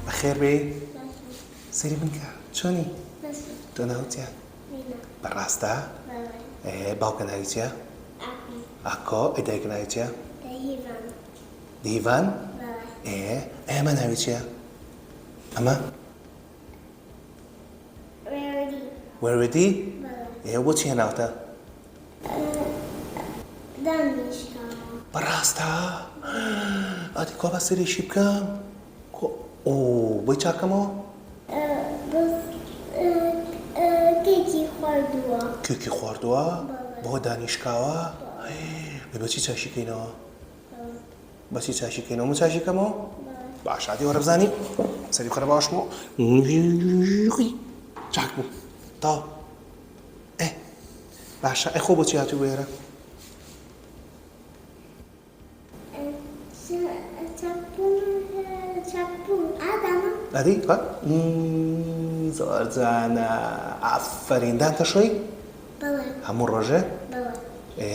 بەخێر بێی سەری من کە چۆنی تۆ ناوچە بەڕاستە باوکە ناویچە ئاکۆ ئەدایکە ناویچە دیڤان ئێ ئێمە ناویچە ئەمە وێوێدی. وێوێدی؟ بەڵێ. ئێ بۆچی هێناوتە؟ دانیشتمەوە. بەڕاستە؟ ئەدی کوا با سەیرێکی بکەم؟ کوا ئۆ بۆی چاکەمەوە؟ کێکی خواردووە. کێکی خواردووە؟ بەڵێ. بەوە دانیشکاوە؟ بەڵێ. ئەی بەچی چاشی کەینەوە؟ بەچی چاشی کەینەوە من چاشی کەمەوە باش هاتی وەرە بزانی سەری خەرە باشمەوە چاک بوو تا باشە ئەخۆ بۆچی هاتوو بێرە ئەدی زۆر جانە ئافرین دان تەشۆی هەموو ڕۆژێ ئێ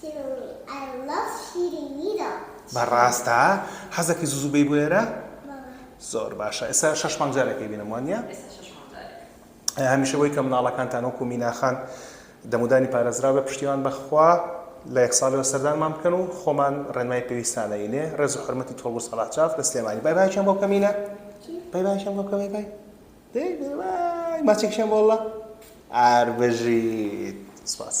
شیرینی I love شیرینی دەڵێت. بەڕاستە؟ حەزەکەی زوو زوو بێی بۆ ئێرە؟ بەڵێ. زۆر باشە ئێستا شەش مانگ جارێک ئەیبینم وا نییە؟ ئێستا شەش مانگ جارێک. هەمیشە بۆی کە مناڵەکانتان وەکو مینا خان دەمودانی پارێزراو بێ پشتیوان بە خوا لە یەک ساڵیەوە سەردانمان بکەن و خۆمان ڕێنمای پێویستان ئەینێ ڕێز و حورمەتی تۆڵ و سەڵاح جاف لە سلێمانی بای بایەکیان بۆ بکە مینا بای بایەکیان بۆ بکە بای بای. دەی بڵێ وای ماچێک شەم واللە ئار بژیت سپاس.